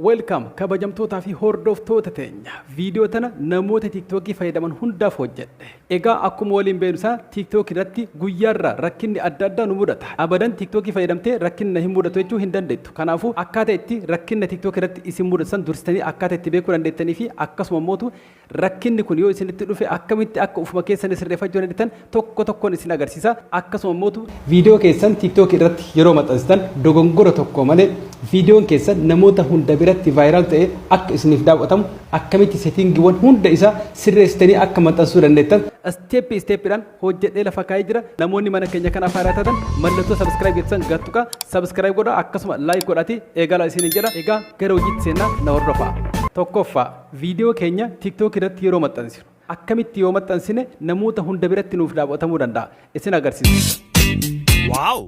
Welcome kabajamtootaa fi hordoftoota teenya. Viidiyoo tana namoota TikTokii fayyadaman hundaaf hojjedhe. Egaa akkuma waliin beeknu sana TikTok irratti guyyaarraa rakkinni adda addaa nu mudata. Abadan TikTokii fayyadamtee rakkinni na hin mudatu jechuu hin dandeettu. Kanaafuu akkaataa itti rakkinna TikTok irratti isin mudatu san dursitanii akkaataa itti beekuu dandeettanii fi akkasuma mootu Rakkinni kun yoo isinitti dhufe akkamitti akka ufuma keessani sirreeffachuu dandeettan tokko tokkoon isin agarsiisa. Akkasuma immoo viidiyoo keessan TikTok irratti yeroo maxxansitan dogongora tokko malee viidiyoon keessan namoota hunda biratti viral ta'ee akka isiniif daawwatamu akkamitti settingiiwwan hunda isaa sirreessitanii akka maxxansuu dandeettan step step dhaan hojjedhee lafa kaa'ee jira. Namoonni mana keenya kanaaf haaraa taatan mallattoo subscribe jettu san gad tuqaa subscribe godhaa akkasuma like godhaatii eegalaa isiniin jedha. Egaa gara hojiitti seennaa na hordofaa. Tokkoffaa. Viidiyoo keenya TikTok irratti yeroo maxxansinu akkamitti yoo maxxansine namoota hunda biratti nuuf daawwatamuu danda'a isin agarsiisa. Wow!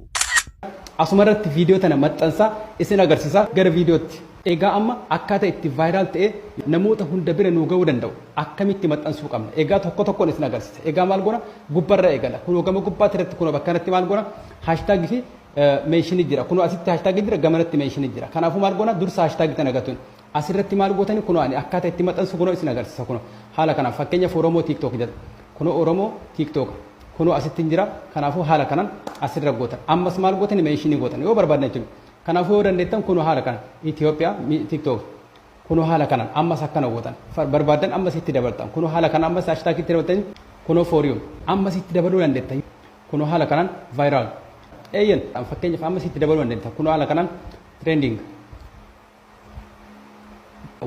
Asuma irratti viidiyoo tana maxxansaa isin agarsiisa gara viidiyootti. Egaa amma akkaataa itti viral ta'ee namoota hunda bira nuu ga'uu danda'u akkamitti maxxansuu qabna. Egaa tokko tokkoon isin agarsiisa. Egaa maal goona gubbarra eegala. Kunoo gama gubbaatti irratti kunoo bakka kanatti maal goona hashtag fi meeshinii jira. Kunoo asitti hashtag jira gamanatti meeshinii jira. Kanaafuu maal goona dursa hashtag tana gatuun. As irratti maal gootani kunoo ani akkaata itti maxansu kunoo isin agarsisa kunoo haala kanaan fakkeenyaf oromoo tiktok jeta kunoo oromoo tiktok kunoo asittin jira kanaafu haala kanan as irra gootan ammas maal gootani mention gootan yoo barbaaddan jechudha kanaafu yoo dandeettan kunoo haala kanan Ethiopia tiktok kunoo haala kanan ammas akkana gootan barbaaddan ammas itti dabaltan kunoo haala kanan ammas hashtag itti dabaltan kunoo for you ammas itti dabaluu dandeettan kunoo haala kanan viral eeyyen fakkeenyaf ammas itti dabaluu dandeettan kunoo haala kanan trending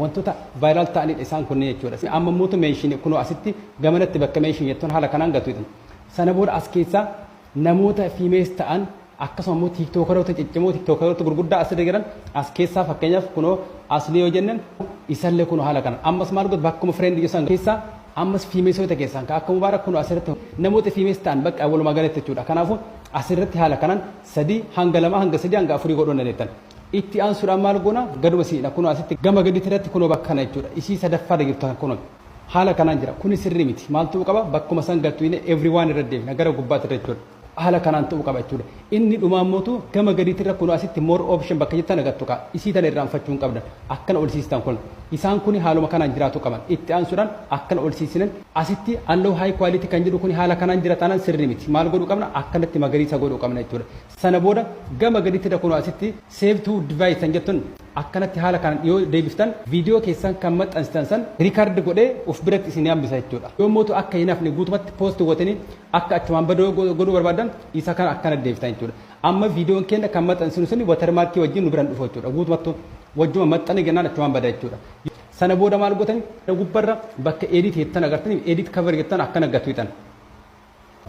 Wantoota viral ta'anidha isaan kunniin jechuudha. Amma immoo meeshiin kunoo asitti gamanatti bakka meeshiin jettuun haala kanaan gatu jedhan. Sana booda as keessaa namoota fiimees ta'an akkasuma immoo tiiktookaroota ciccimoo tiiktookaroota gurguddaa asirra jiran as keessaa fakkeenyaaf kunoo asli yoo jennan isallee kunoo haala kanaan ammas maal godhu bakkuma fireendii keessan keessaa ammas fiimeesoota keessan ka akka mubaarak kunoo asirratti namoota fiimees ta'an bakka walumaa galatti jechuudha. Kanaafuu asirratti haala kanaan sadii hanga lama hanga sadii hanga afurii godhuu dandeettan. Itti aansuudhaan maal goona? Gaduma isin jedha. Kunoo asitti gama gadiitti irratti kunoo bakka kana jechuudha. Isii sadaffaa irra jirtu kana kunoo. Haala kanaan jira. Kuni sirrii miti. Maal ta'uu qaba? Bakkuma san gad tuyne everyone irra deebina. Gara gubbaatti irra jechuudha. Haala kanaan ta'uu qaba jechuudha. Inni dhumaa immootu gama gadiitti irra kunoo asitti more option bakka jettu tana gad tuqaa. Isii tana irraanfachuu hin qabdan. Akkana ol siistan kun. Isaan kuni haaluma kanaan jiraatuu qaban. Itti aansuudhaan akkana ol siisinen asitti allow high quality kan jedhu kuni haala kanaan jira taanaan sirrii miti. Maal godhuu qabna? Akkanatti magariisa godhuu qabna jechuudha. Sana booda gama gadittidha kunoo asitti save to device tan jettun akkanatti haala kanaan yoo deebiftan video keessan kan maxxansitan san record godhee of biratti isinii hambisa jechuudha. Yoo mootu akka hin hafne guutumatti post gootanii akka achumaan badu yoo godhuu barbaaddan isa kana akkanatti deebiftan jechuudha. Amma videon keenna kan maxxansinu suni watermark wajjin nu bira hin dhufu jechuudha. Guutumattu wajjuma maxxane jennaan achumaan bada jechuudha. Sana booda maal gootanii gubbarra bakka edit jettan agartanii edit cover jettan akkana gad tuqxan.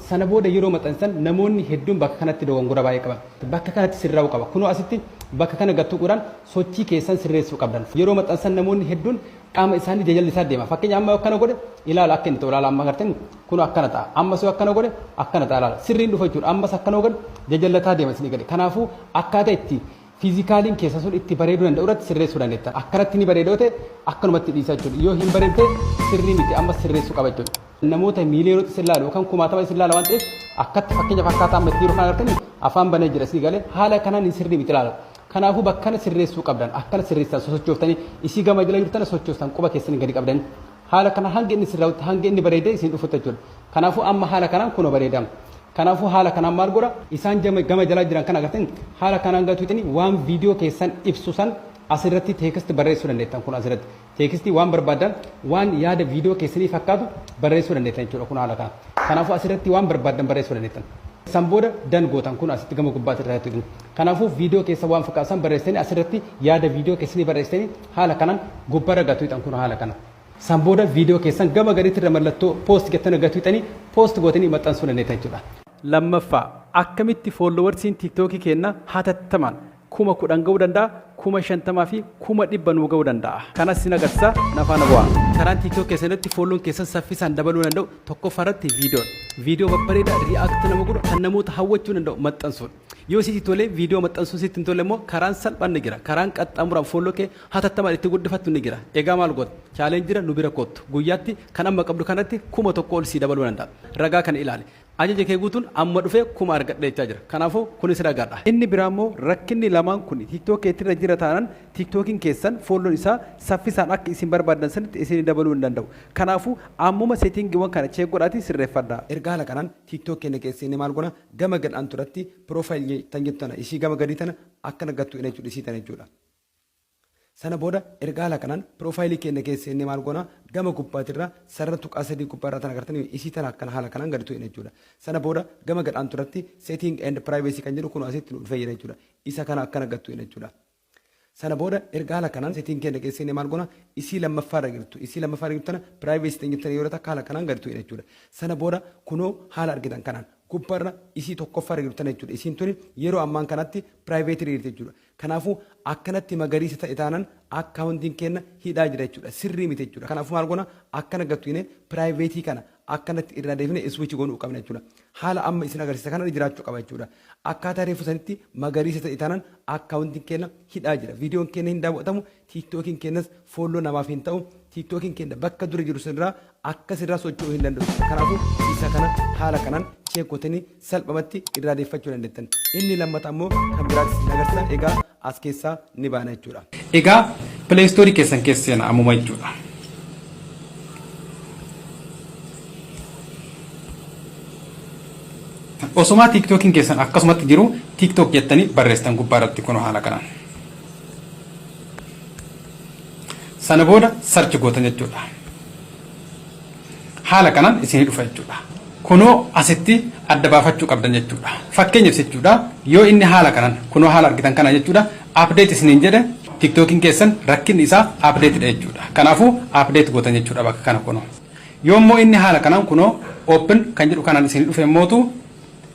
Sana booda yeroo maxansan namoonni hedduun bakka kanatti dogongora baay'ee qaban. Bakka kanatti sirraa'uu qaba. Kunoo asitti bakka kana gad tuquudhaan sochii keessan sirreessuu qabdan. Yeroo maxansan namoonni hedduun qaama isaanii jajallisaa deema. Fakkeenya amma yoo akkana godhe ilaala akka inni ta'u ilaala amma agartanii kunoo akkana ta'a. Ammas yoo akkana godhe akkana ta'a ilaala. Sirriin dhufa jechuudha. Ammas akkana yoo godhe jajallataa deema isin eegale. Kanaafuu akkaataa itti Fiizikaaliin keessan sun itti bareeduu danda'u irratti sirreessuu dandeettan. Akkanatti ni bareeda yoo ta'e akkanumatti dhiisaa jechuudha. Yoo hin bareedne sirrii miti ammas sirreessuu qaba jechuudha. Namoota miiliyoonota isin laalu yookaan kumaatama isin laala waan ta'eef akkatti fakkeenyaaf akkaataa amma itti jiru kana argitanii afaan banee jira sii galee haala kanaan hin sirrii miti laala. Kanaafuu bakkana sirreessuu qabdan akkana sirreessitan sosochooftanii isii gama jala jirtana sochoostan quba keessan gadi qabdanii Haala kanaan hanga inni isin raawwate hanga inni bareedee isin dhufutti jechuudha. Kanaafuu amma haala kanaan kunoo bareedaam. Kanaafuu haala kanaan maal godha? Isaan jama gama jalaa jiran kana agartanii haala kanaan gatu itini waan video keessan ibsu san asirratti text barreessuu dandeettan kun asirratti text waan barbaaddan waan yaada video keessanii fakkaatu barreessuu dandeettan jechuudha kun haala kana kanaafuu asirratti waan barbaaddan barreessuu dandeettan san booda dan gootan kun asitti gama gubbaatti irraa jechuudha kanaafuu video keessa waan fakkaatu san barreessanii asirratti yaada video keessanii barreessanii Haala kanan gubbarra gad tuixan kuno haala kana. San booda video keessan gama gaditirra mallattoo post jettana gad tuixanii post gootanii maxxansuu dandeettan jechuudha. Lammaffaa, akkamitti followersiin tiktoki keenna hatattamaan 10,000 ga'uu danda'a, 50,000 fi 100,000 nuu ga'uu danda'a? Kanas isin agarsiisa, na faana bu'aa. Karaan tiktok keessan irratti follown keessan saffisaan dabaluu danda'u tokkoffaa irratti videodha. Video babbareeda react nama godhu kan namoota hawwachuu danda'u maxxansuudha. Yoo sitti tole viidiyoo maxxansuu sitti hin tolle immoo karaan salphaan ni jira. Karaan qaxxaamuraan folloo kee hatattamaan itti guddifattu ni jira. Egaa maal goota? Challenge-dha nu bira koottu. Guyyaatti kan amma qabdu kanatti 1000 ol sii dabaluu danda'a. Ragaa kana ilaali. Ajaja kee guutuun amma dhufee 1000 argadhe jechaa jira. Kanaafuu kunis ragaadha. Inni biraa immoo rakkinni lamaan kun TikTok keetti irra jira taanaan TikTokin keessan follown isaa saffisaan akka isin barbaaddan sanitti isinii dabaluu hin danda'u. Kanaafuu ammuma setting-wwan kana check godhaatii sirreeffadhaa. Erga haala kanaan TikTok keenya keessa seennee maal goona? Gama gad antu irratti profile tan jettu tana isii gama gadii tana akkana gattu ina jechuudha isii tana jechuudha. Sana booda erga haala kanaan profile keenya keessa seennee maal goona gama gubbaatirra sarara tuqaa sadii gubbaarraa tana agartanii isii tana akkana haala kanaan gadi tuqina jechuudha. Sana booda gama gad antu irratti setting and privacy kan jedhu kunoo asitti nu dhufee jira jechuudha. Isa kana akkana gad tuqina jechuudha. Sana booda erga haala kanaan setting keenya keessa seenne maal goona? Isii lammaffaa irra jirtu. Isii lammaffaa irra jirtu tana privacy tan jirtu tana yoo takka haala kanaan gad tu'ina jechuudha. Sana booda kunoo haala argitan kanaan gubba irra isii tokkoffaa irra jirtu tana jechuudha. Isiin tuni yeroo ammaan kanatti private irra jirti jechuudha. Kanaafu akkanatti magariisa ta'e taanan accountiin keenna hidhaa jira jechuudha. Sirrii miti jechuudha. Kanaafu maal goona? Akkana gad tu'ine private kana akkanatti irraa deebinee switch goonuu qabna jechuudha. Haala amma isin agarsiisa kanarra jiraachuu qaba jechuudha. Akkaataa reefu sanitti magariisa ta'e taanaan akkaawuntiin keenya hidhaa jira. Viidiyoon keenya hin daawwatamu, tiiktookiin keenyas foolloo namaaf hin ta'u. Tiiktookiin keenya bakka dura jiru sanirraa akka sirraa socho'uu hin danda'u jechuudha. Kanaafuu isa kana haala kanaan cheekotanii salphamatti irraa deeffachuu dandettan. Inni lammata ammoo kan biraati isin agarsiisa. Egaa as keessaa ni baana jechuudha. Egaa play store keessan keessa seena ammuma jechuudha. Osomaa TikTokin keessan akkasumatti jiru TikTok jettanii barreessitan gubbaa irratti kun haala kanaan. Sana booda search gootan jechuudha. haala kanan isinii dhufa jechuudha. Kunoo asitti adda baafachuu qabdan jechuudha. Fakkeenyaf jechuudha yoo inni haala kanan kunoo haala argitan kana jechuudha update isiniin jedhe tiktokin keessan rakkinni isaa update dha jechuudha. Kanaafuu update gootan jechuudha bakka kana kunoo. Yoo immoo inni haala kanan kunoo open kan jedhu kanan isinii dhufe immootu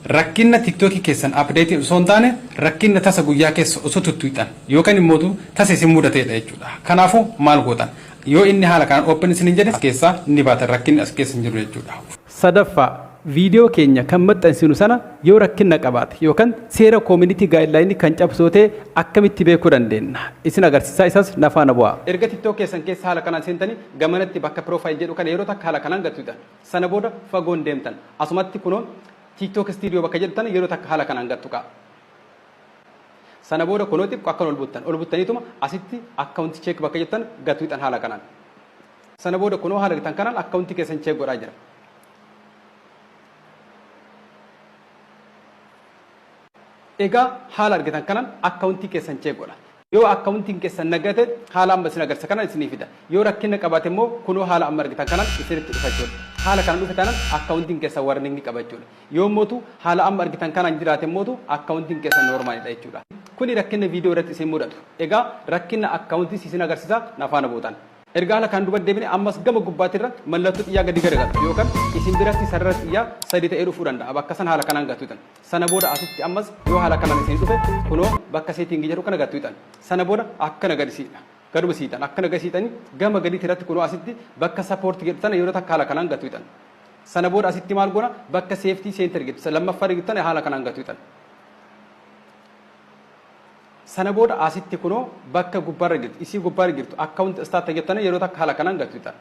rakkinna tiktoki keessan update osoo hin taane rakkinna tasa guyyaa keessa osoo tuttuuxan yookan immootu tasa isin mudateedha jechuudha. Kanaafuu maal gootan? Yoo inni haala kanaan open isiniin jedhe as keessaa ni baatan rakkinni as keessa hin jiru jechuudha. Sadaffaa, Viidiyoo keenya kan maxxansinu sana yoo rakkinna qabaate yookan seera community guideline kan cabsu yoo ta'e akkamitti beekuu dandeenna? Isin agarsiisaa isas na faana bu'aa. Erga tiktok keessan keessa haala kanaan seentanii gamanatti bakka profile jedhu kana yeroo takka haala kanaan gad tuqxan. Sana booda fagoo hin deemtan. Asumatti kunoo tiktok studio bakka jedhu tana yeroo takka haala kanaan gad tuqaa. Sana booda kunoo xiqqo akkan ol buttan. Ol buttaniituma asitti account check bakka jettan gad tuqxan haala kanaan. Sana booda kunoo haala argitan kanaan account keessan check godhaa jira. Egaa haala argitan kanaan account keessan check godha. Yoo akkaawuntiin keessan naga ta'e haala amma isin agarsiisa kanaan isinii fida. Yoo rakkinna qabaate immoo kunoo haala amma argitan kanaan isinitti dhufa jechuudha. Haala kana dhufe taanaan akkaawuntiin keessan warning qaba jechuudha. Yoo immootu haala amma argitan kanaan jiraate immootu akkaawuntiin keessan normal dha jechuudha. Kuni rakkinna video irratti isin mudatu. Egaa rakkinna akkaawuntiis isin agarsiisa na faana buutan. Erga ala kaan duba debine ammas gama gubbati irra mallatto xiyyaa gadi garagaltu yookan isin biratti sarara xiyyaa sadi ta'ee dhufuu danda'a bakka san haala kanaan gattutan sana booda asitti ammas yoo haala kanaan isinii dhufe kuno bakka setting jedhu kana gattutan sana booda akkana gadi siidha gaduma siitan akkana gadi siitani gama gaditi irratti kuno asitti bakka support jedhu tana yeroo takka haala kanaan gattutan sana booda asitti maal gona bakka safety center jedhu lammaffaa jedhu tana haala kanaan gattutan Sana booda asitti kunoo bakka gubbarra jirtu isii gubbarra jirtu account start jettanii yeroo takka haala kanaan gad fixan.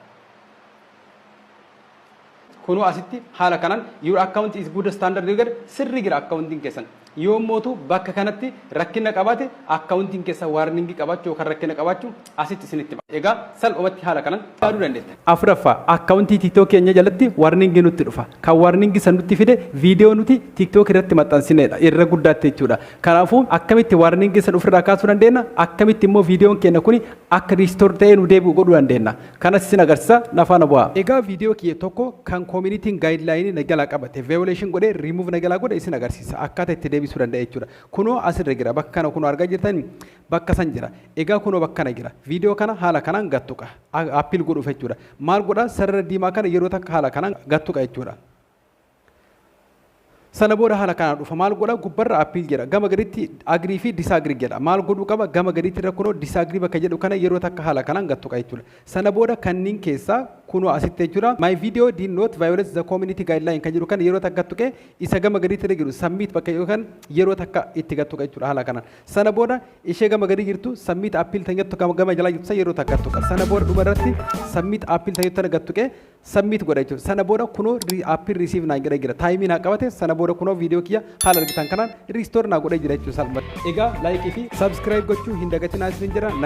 Kunoo asitti haala kanaan your account is good standard yoo jedhe sirri jira accountiin keessan. Yoo mootu bakka kanatti rakkina qabaate accountiin keessan warning qabaachuu yookaan rakkina qabaachuu asitti isinitti ba'a. Egaa salphumatti haala kanan yaaduu dandeettan. Afuraffaa, Akkaawuntii TikTok keenya jalatti warning nutti dhufa. Kan warning san nutti fide video nuti TikTok irratti maxxansineedha. Irra guddaatti jechuudha. Kanaafuu akkamitti warning san ofirraa kaasuu dandeenna? Akkamitti immoo videon keenya kuni akka restore ta'ee nu deebi'u godhuu dandeenna? Kanas isin agarsiisa. Na faana bu'aa. Egaa video kiyya tokko kan community'n guideline na jalaa qabate violation godhe remove na jalaa godhe isin agarsiisa. Akkaataa itti deebisuu danda'e jechuudha. Kunoo asirra jira. Bakka kana kunoo argaa jirtanii? Bakka san jira. Egaa kunoo bakkana jira. Video kana haala kanaan gad tuqa. Appeal godhuuf jechuudha. Maal godha? Sarara diimaa kana yeroo takka haala kanaan gad tuqa jechuudha. Sana booda haala kanaan dhufa. Maal godha? Gubbarra appeal jedha. Gama gaditti agree fi disagree jedha. Maal godhuu qaba? Gama gaditti irra kunoo disagree bakka jedhu kana yeroo takka haala kanaan gad tuqa jechuudha. Sana booda kanniin keessaa kunoo asitti jechuudha. My video did not violate the community guideline kan jedhu kana yeroo takka gad tuqee isa gama gaditti irra jiru submit bakka jedhu kan yeroo takka itti gad tuqa jechuudha haala kanaan. Sana booda ishee gama gadii jirtu submit appeal tan jettu kan gama jalaa jirtu san yeroo takka tuqa. Sana booda dhuma irratti submit appeal tan jettu tana gad tuqee submit godha jechuudha. Sana booda kunoo re- appeal receive naan jedhee jira. Taayimii naa qabate sana booda kunoo viidiyoo kiyya haala argitan kanaan restore naa godhee jira jechuudha salphumatti. Egaa like fi subscribe gochuu hin dagatinaa isinin jedha. Nag-